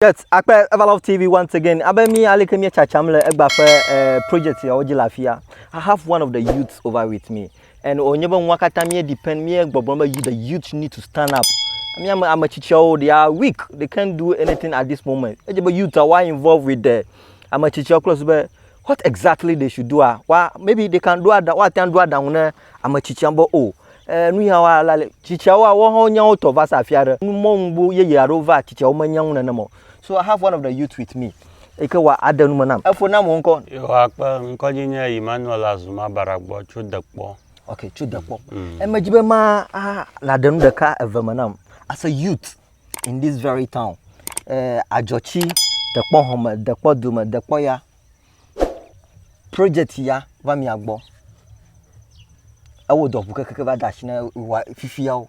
Yes, akpe Everlove TV once again. Abe mi aleke mi chacham le egba ƒe eh, project yawo dzi le afia. I have one of the youths over with me. And onye be nua katã mi depend mi gbɔgblɔ be you the youth need to stand up. Mi ame ame tsitsiawo they are weak. They can't do anything at this moment. Edze be youth are involved with the ame tsitsiawo kple su be What exactly they should do ah, wa, maybe they can do aɖa, woate ŋu aɖo aɖaŋu ne ame tsitsia be o, eh, nu ya wa la le tsitsiawo a woawo hã wonya wo tɔ va se afi aɖe. Nu mɔ ŋugbo yeye aɖewo va tsitsiawo menya ŋu nenem o. So I have one of the youth with me eyi ke wa aɖe nume nam. Efo nam wò ŋkɔ. Yehowa kpe ŋkɔdzi nye Emmanuel Azuma Baragbɔ tso Dekpɔ. Ok, tso Dekpɔ. Mm. Emedzi be ma a naɖe nu ɖeka eve me nam as a youth. in this very town eh, adzɔtsi dekpɔ hɔme dekpɔ dome dekpɔ ya project ya va mia gbɔ ewɔ dɔ ʋu kekeke va da asi na wa fifiawo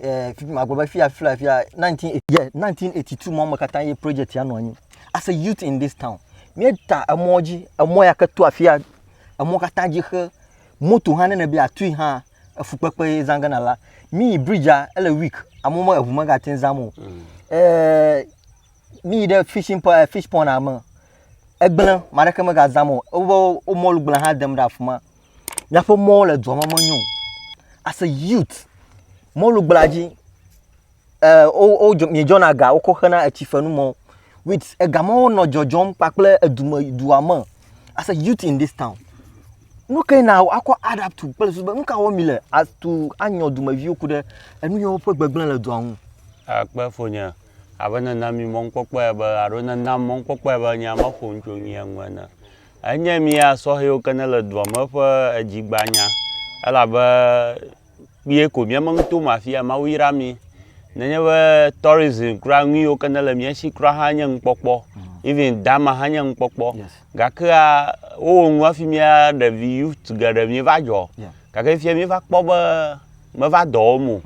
eh, fifi magblɔ be fia fia fia 19 yeah, 1982 mɔ me katã ye project ya nɔ anyi as a youth in this town míeda emɔ dzi emɔ ya ke to afia emɔ katã dzi xe moto hã nene be atui hã efukpekpe ye zã gana la mi yi bridgea ele week amewo me eʋu megate ŋu zãm o ɛɛ mi yi ɖe fishing po- eh, fish pond me egblẽ ame aɖeke megazãm o woƒe wo mɔlu gblẽ hã dem ɖe afi ma míaƒe mɔwo le dua me menyo o as a youth mɔlugblẽa dzi eh, miedzɔna ga wokɔ xena etsi fenu mɔ wit ega mɔwo nɔ dzɔdzɔm kpakple edume dua me as a youth in this town nu ke na akɔ adapt to kple susu be nu ka wɔm mi le atu anyɔ dumeviwo ku ɖe enu yɔ woƒe gbegblẽ le dua ŋu akpe fonye abe nena mi mɔnukpɔkpɔe be alo nena mɔnukpɔkpɔe be nya ma ƒo ŋutso nyuie ŋu ene enye mia sɔhɛwo ke ne le dua me ƒe edzigbanya elabe kpuie ko mía me nuto me afi ya. Mawu yra mi. Nenye be tourism kura nuyiwo ke nele mía si kura hã nye nukpɔkpɔ. Even dama hã nye nukpɔkpɔ. Gakea wowɔ nu hafi mía ɖevi youth geɖe míeva dzɔ. Gake fifia míeva kpɔ be meva dɔ wɔm o.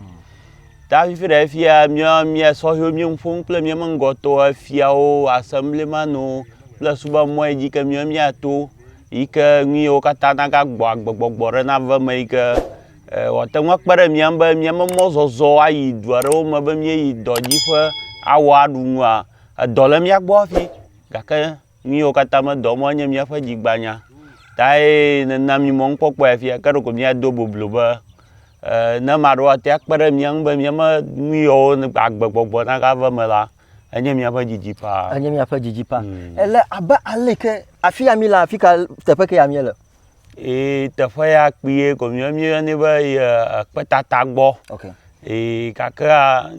Ta fifi ɖe fia mía mía sɔhɛwo mía nu ƒom kple mía me ŋgɔtɔwo, efiawo, assemblymanwo kple subɔamɔe dzi ke mía míato. yi ke nu yiwo katã nagagbɔ agbegbɔgbɔ ɖe nave eme yi ke wòate ŋu akpe ɖe mía ŋu be míaƒe mɔzɔzɔ ayi du aɖewo me be míeyi dɔ dzi ƒe awɔ aɖu nua, edɔ le mía gbɔ hafi gake nu yiwo katã medɔ mɔ enye míaƒe dzi gbanya tae nena mí mɔnukpɔkpɔe afia. Ke ɖeko míado boblo be ne ame aɖewo ate ŋu akpe ɖe mía ŋu be míaƒe nu yiwo agbegbɔgbɔ nagave eme la, Enye míaƒe didi paa. Enye míaƒe didi paa. Mm. Ele abe ale ke afi ya mi le afi ka teƒe ke ya mi le. Ee teƒe ya kpee ko mi mi yɔnɛ be kpetata gbɔ. Okay. Ee gake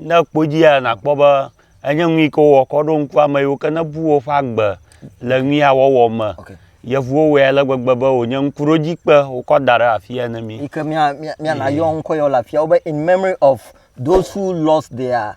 ne kpɔ dzi ya nakpɔ be enye nui ke wɔ kɔ ɖo ŋku ame yiwo ke ne bu woƒe agbe le nui ya wɔwɔ me. Okay. Yevuwo wɔe ale gbegbe be wònye ŋkuɖodzikpe wokɔ da ɖe afi ya ne mi. Yi ke mia mia mia na yɔ ŋkɔ yɔ le afi ya wo be in memory of those who lost their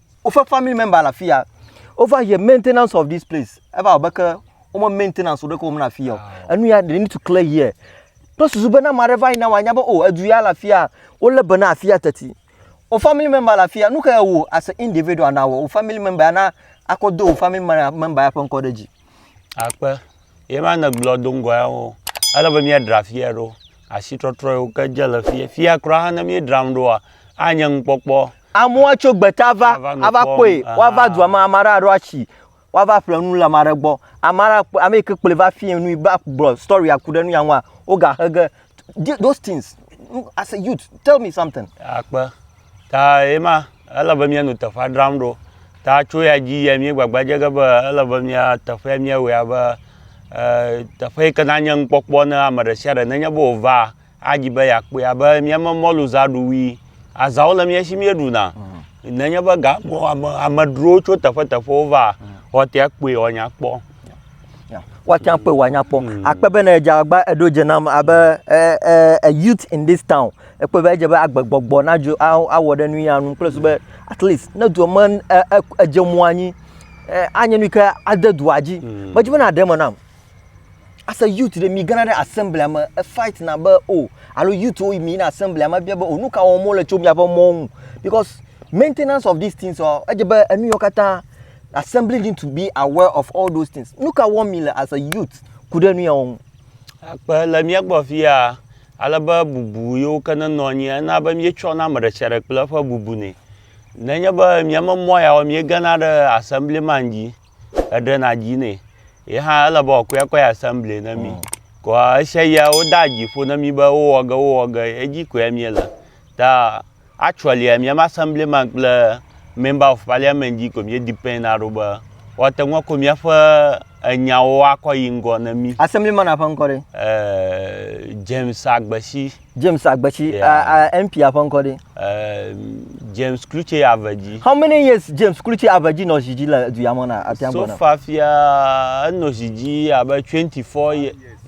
woƒe family member le afi ya over here maintenance of this place eva abe ke wome maintenance ɖeke wɔm na afi ya o ah. enu ya they need to clear here kple susu be na ame aɖe va yina wòanya be o oh, edu ya le afi ya wolé be na afi ya teti o family member le afi ya nu ke wò as an individual na wɔ o family member ya na akɔ do o family member ya ƒe ŋkɔ ɖe dzi. akpe ye ma ne gblɔ do ŋgɔ ya wo ele be míadra fiya ɖo asitrɔtrɔ yiwo ke dze le fiya fiya kura ne míedzram ɖoa anye nukpɔkpɔ. Amewo atso gbeta ava ava kpɔe woava dua me ame aɖe aɖo atsi woava ƒle nu le ame aɖe gbɔ ame aɖe ame yi ke kplɔe va fia nui va gblɔ storia ku ɖe nu ya ŋua woga xe ge those things as a youth tell me something. Akpe. Ta ye ma, ele be míanu teƒea dzram ɖo. Ta tso ya dzi yia míegbagba dze ge be ele be mía teƒea míawɔe abe e teƒe yi ke nanye nukpɔkpɔ na ame ɖe sia ɖe nenye be wòva adi be yeakpɔe abe míaƒe mɔluzaɖuwui. Azãwo le mía si míeɖuna. Nenye be ga ame amedrowo tso teƒeteƒewo va, woate ŋu akpɔe woanya kpɔ. woatsã kpɔe wòanya kpɔ. Mm. Akpe bene edze agba eɖo dze nam abe eh, eh, a youth in this town. Ekpɔe be edze be agbegbɔgbɔ nadzo awɔ ɖe nu ya nu kple su be at least ne dua me eh, edze mo anyi anye nu ke ade dua dzi. Mm. Medzi be naɖe me nam. As a youth ɖe mi gana ɖe assembly me efight na be o oh, alo youth wo mi na assembly me bia be o oh, nu ka wɔm wole tso miaƒe mɔ ŋu because maintenance of these things ɔ oh, edze be enu yɔ katã Assembling need to be aware of all those things. Nu ka wɔm mi le as a youth ku ɖe nu yawo ŋu? Akpe le mía gbɔ afi ya ale be bubu yiwo ke nenɔ anyi ena be míetsɔna ame ɖe sia ɖe kple eƒe bubu nɛ. Nenye be mía me mɔ ya o míegena ɖe assemblyman dzi heɖena dzi nɛ. Ye hã ele be wòakɔe akɔ yi assembly na mí. Koa esia ya wodea dzi ƒo na mí be wowɔ ge wowɔ ge edzi koe míele. Ta actually mía me assembly man kple member of parliament dzi ko mía depend na ɖo be woate ŋu akɔ míaƒe enyawo akɔ yi ŋgɔ ne mí. Assembly man ƒe ŋkɔ ɖe? Eh, James Agbesi. James Agbesi. Yeah. Uh, uh, MP ƒe ŋkɔ ɖe? Eh, James Klutse Avedzi. How many years James Klutse Avedzi nɔ zi dzi le du ya me na atia gbɔ na? So far fia enɔ zi dzi abe 24 years.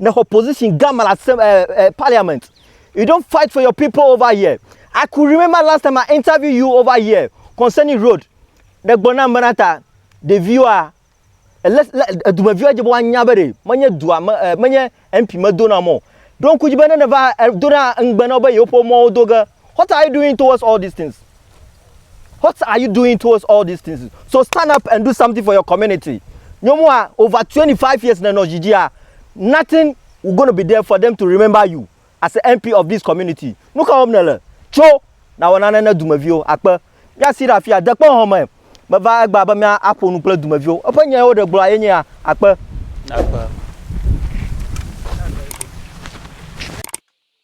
nèxɔ position gã me le asem ɛ eh, ɛ eh, parliament you don't fight for your people over here i could remember last time i interview you over here concerning road ɖe gblɔ nam bena ta ɖeviwoa edumeviwo dze be woanya be ɖe menye dua me menye mp medona mɔ ɖo ŋku dzi be ne neva dona ŋugbe na wo be yewoƒe mɔwo do ge What are you doing towards all these things? What are you doing towards all these things? So stand up and do something for your community. Nyɔmua, over 25 years nenɔ dzidzia, nothing will going to be there for them to remember you as an MP of this community. Nu ka wɔm nèle? Tso nawɔ nane ne dumeviwo akpe. Míasi ɖe afia, dekpe hɔn me. Meva egbea be mía aƒo nu kple dumeviwo. Eƒe nya yewo ɖe gblɔa ye nye ya akpe. Akpe.